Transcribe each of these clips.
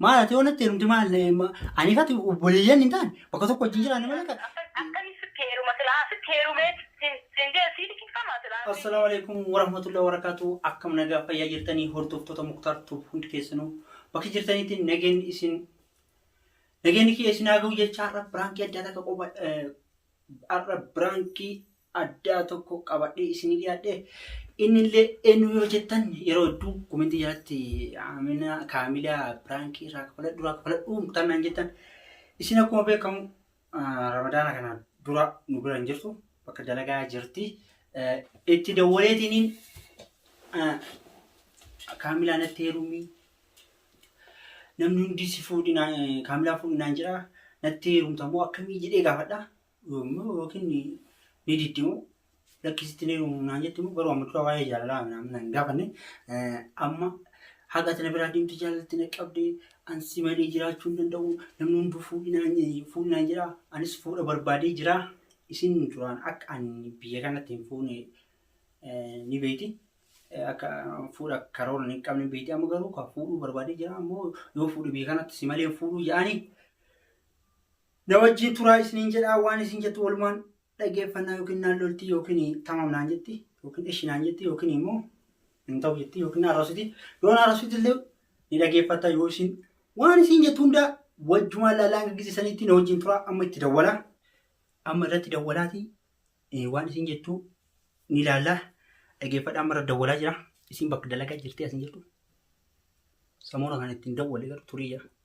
Maal ati yoo natti heerumte maal ani fati obboleeyyan hin taane bakka tokko wajjin jiraanne malee kan. Akkami sitti heeruma silaa sitti heerumee siin jee sii liqinfamaa silaa. Assalaamu alaikum warahmatullahi wabarakatuh akkam nagaa fayyaa jirtanii hordoftoota muktaar tuub hundi keessanuu bakka jirtanitti nageen isin nageen kiyya isin haa ga'u jecha har'a biraankii addaa takka qofa har'a biraankii addaa tokko qabadhee isinii dhiyaadhe. Innillee eenyu yoo jettan yeroo hedduu komentii jalatti Amina Kaamilaa piraankii irraa kafaladhu irraa kafaladhu kan naan jettan isin akkuma beekamu ah, ramadaana kana dura nu bira hin jirtu bakka dalagaa jirti. Eh, Itti dawwaleetiniin ah, Kaamilaa natti heerumii namni hundi si fuudhinaa kaamilaa fuudhinaan jira natti heerumta moo akkamii jedhee gaafadha Yommuu yookiin ni diddi moo lakkisitti ni uumu naan jetti moo garuu amma dura waa'ee jaalalaa naan naan gaafanne eh, amma haga ati na biraa deemte jaalalatti na qabde an si malee jiraachuu hin danda'u namni hunduu fuudhinaan fuudhinaan jira anis fuudha barbaadee jira isin duraan akka ani biyya kanatti hin fuune eh, ni beekti. Eh, Akka fuudha karoora hin qabne beekti amma garuu kan fuudhuu barbaadee jira ammoo yoo fuudhe biyya kanatti si malee hin fuudhuu jedhanii Na wajjin turaa isiniin jedhaa waan isin jettu walumaan dhageeffannaa yookiin naan lolti yookiin tamam naan jetti yookiin eshi naan jetti yookiin immoo hin ta'u jetti yookiin arrasiti yoo arrasiti illee ni dhageeffatta yoo isin waan isin jettu hundaa wajjumaan laalaa hanga gise sanitti na wajjin turaa amma itti dawwala amma irratti dawwalaati eh, waan isin jettu ni laallaa dhageeffadha amma irratti dawwalaa jira isin bakka dalagaa jirti asin jirtu samoona kan ittiin dawwale garuu turii jira.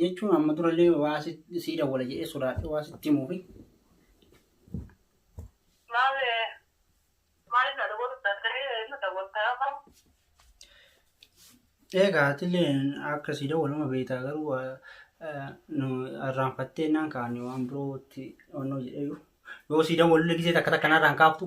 jechuun amma durallee waa sii dawwala jedhee sodaadhe waa sitti himuufi. Maal maaliif na dawwaluu danda'ee na dawwaltaa qabu? Egaa atillee akka sii dawwaluma beektaa garuu nu irraanfattee naan kaane waan birootti onnoo jedhee yoo sii dawwalullee gisee takka takka narraan kaaftu.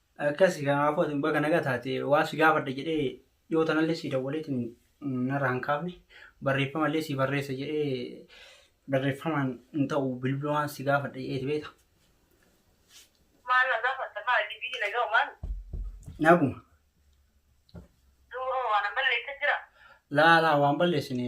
Akkasi kanaafuu ati baga naga taate waa si gaafadha jedhee dhiyoo tanallee si dawwaleetiin narra hin kaafne barreeffama illee si barreessa jedhee barreeffamaan hin ta'u bilbilumaan si gaafadha jedheeti beekta. Maal na gaafatta maal ati biyyi nagaa homaa miti. Naguma. Duuba hoo waan an balleessa jira? Laa laa waan balleessine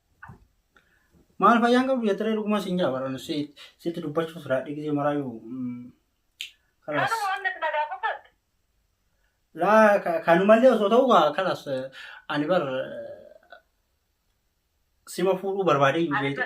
Maal fayyaan qabdu jettee dhuguma siin jaa baran sitti dubbachuuf raadhii gisee maraayyuu kalas. Laa kanumallee osoo ta'u kaa kalas ani bar sima fuudhuu barbaadee iyyuu beekte.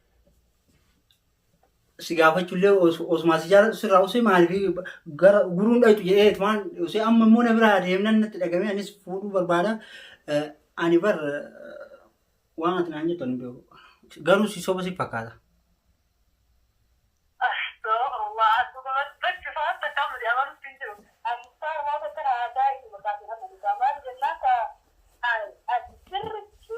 si gaafachullee os- osumaa si jaalatu sirraa osee maaliif gara guruun dhayxu jedhee waan osee amma immoo na biraa deemnan natti dhagamee anis fuudhuu barbaada Eh, ani bar eh, waan ati naan jettu ani hin beeku garuu si soba si fakkaata Astagfirullah, akkuma bakki fa'aa takka amma jedhamaa nutti hin jiru. Ani isaa irraa takka na aadaa inni maqaa fi hamma isaa maali jennaan ka ani ati sirritti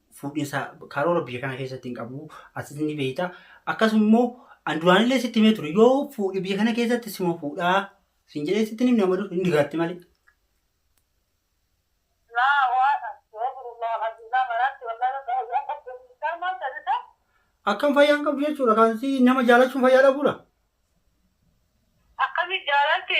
fuudhinsa karoora biyya kana keessatti hin qabu asitti ni beekta akkasuma immoo an duraanillee sitti himee ture yoo fuudhi biyya kana keessatti sima fuudhaa siin jedhee sitti himne amma dur hin digaatti malee. Laa waa astagfirullah alazim maraatti wallahi rabbi ayyaan qabdu miidhaan maal taasisa? Akkam fayyaan qabdu jechuudha kan si nama jaalachuun fayyaa dhabuudha. Akkamitti jaalalti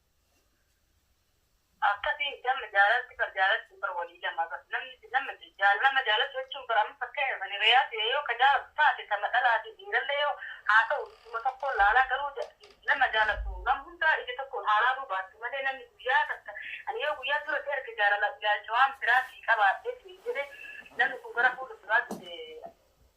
Akkasiin damma jaalalti bar jaalalti bar walii lama bar namni si nama jaal nama jaalatu jechuun bar amma fakkeenyaaf ani reyaa si yoo ka jaalatu taate tama dhalaati dhiiralle yoo haa ta'u idduma tokkoon laalaa garuu nama jaalatu nama hundaa ija tokkoon haa laaluu baattu malee namni guyyaa takka ani yoo guyyaa dura si arge jaalala ilaalcha waan biraa sii qabaadhe siin jedhe namni sun gara fuula duraa dhufe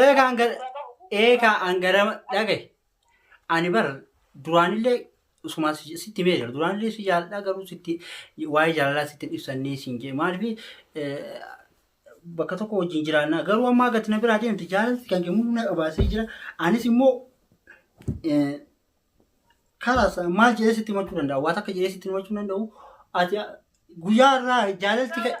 Eegaa an gara eegaa an gara dhagaye ani bar duraanillee sumaa si- sitti himee jira duraanillee si jaalladha garuu sitti waa'ee jaalalaa sitti hin ibsannee siin jedhe maalifi bakka tokko wajjin jiraannaa garuu ammaa gati na biraa deemte jaalalti kan kee mul'ina qabaasee jira anis immoo eh, kalaas maal jedhee sitti himachuu danda'a waa takka jedhee sitti himachuu danda'u ati guyyaa irraa jaalalti ka-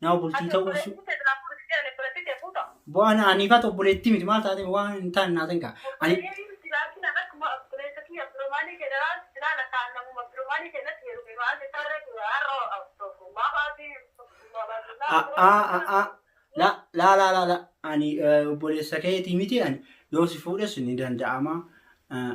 Nama bultii ta'uu su- bu'aan aniifaa obboleettii miti maal taate waan hin taane naa ta'in kaa. Ani la la la la la ani eh, obboleessa keetii miti ani yoo si fuudhes ni danda'ama. Eh,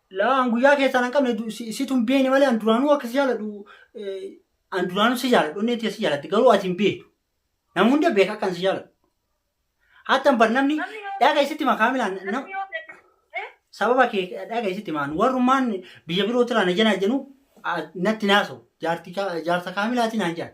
Laa an guyyaa keessaan hin qabne du- si- situ hin beekne malee an duraanuu akka si jaaladhu eh, an duraanuu si jaaladhu onneen tiyya si jaalatti garuu ati hin beektu nama hunda beeka akka an si jaaladhu hattan bar namni dhaga isitti ma kaamilaan nam- Namni yoo beeku- Eh? sababa kee dhaga isitti maan warrummaan biyya biroo tiraa na jenaa jenuu natti naaso jaarsa kaamilaatiin aan jaan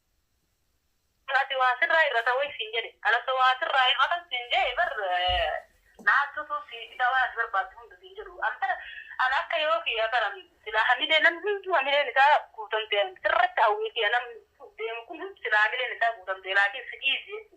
Ati waa sirraa irrata wayi siin jedhe. An osoo waa sirraa irratan siin jedhe bar naattutu si dhisaa waan ati barbaaddu hunda siin jedhu. An bara an akka yoo kiyya kana silaa hamilee namni hunduu hamileen isaa guutamte sirratti hawwee kiyya namni deemu kun hundi silaa hamileen isaa guutamte laakiin si dhiisi jechuudha.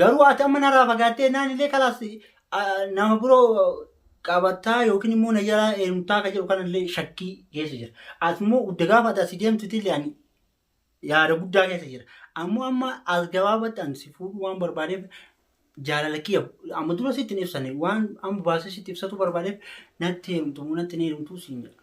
Garuu ati amma narraa fagaattee naan illee kalaas nama biroo qabattaa yookiin immoo na jalaa heerumtaa akka jedhu kanallee shakkii keessa jira. As immoo gudda gaafa ati asii deemtutti illee ani yaada guddaa keessa jira. Ammoo amma as gabaabatti ani si fuudhuu waan barbaadeef jaalala kiyya amma dura sitti hin ibsane waan amma baasee sitti ibsatu barbaadeef natti heerumtu moo natti hin heerumtu siin jedha.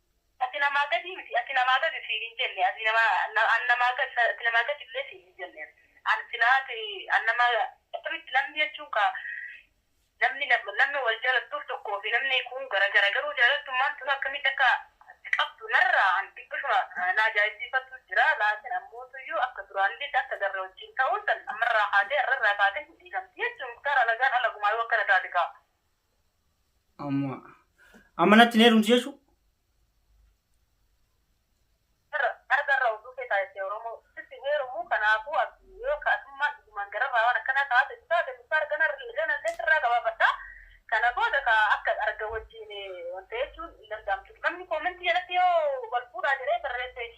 Ati namaa gadii miti, ati namaa gadi siin hin jenne, ati namaa, an namaa gadi, ati namaa gadi illee siin hin jenne. An silaa ati, an namaa, akkamitti namni jechuun kaa, namni, namni wal jaalattuuf tokkoo fi namni kuun gara gara, garuu jaalaltummaan tun akkamitti akka si qabdu narraa an xiqqishuma na ajaa'ibsiifattu jira, laakiin ammootuyyuu akka duraaniititti akka garre wajjiin ta'uun san ammarraa kaatee, arrarraa kaatee hin dhiigamti jechuun, Muktaar alagaan alagumaayuu akkana taati kaa. Amma amma natti hin heerumtu jechuu? Irra argarra oduu kee taasise Oromoo. Sitti hin heerumuu kanaafuu abdii yoo akka atummaan dhugumaan gararraa waan akkanaa ka haasoftu taate nuuf arga narri ganallee sirraa gabaafadha. Kana booda ka akka arga wajjiin wanta jechuun hin danda'amtu. Namni koomentii jalatti yoo wal fuudhaa jedhee barreesseef.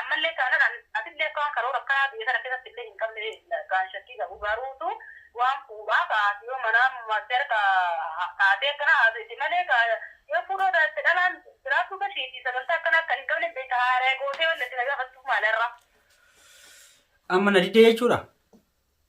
Ammallee taanan an atillee akka waan karoora akkanaa biyya tana keessatti illee hin qabnee kaan shakkii qabu. Garuu tu waan fuudhaa ka ati yoo manaa master ka taatee akkana haasoyte malee ka yoo fuudhoo taatte dhalaan jiraachuu tashii ti sagantaa akkanaa akkan hin qabneen beekta haaraya gootee wanni ati na gaafattuuf maali har'a? Amma na didde jechuudhaa?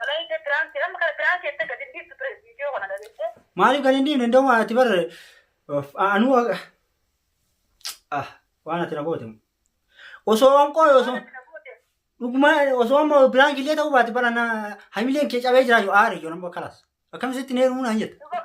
Malaayika piraank jedha. Amma kana piraank jettee gadi hin dhiiftu ture viidiyoo kana dhageessee. Maaliif gadi hin dhiifne indooma ati bar of- a- anuu a- ah waan ati na goote osoo waan qooy osoo Waan ati na goote. dhuguma osoo amma piraank illee ta'uu baate bara na hamileen kee cabee jira yoo aare yoo nama kalas akkam sitti neeruu naan jette Dhuga-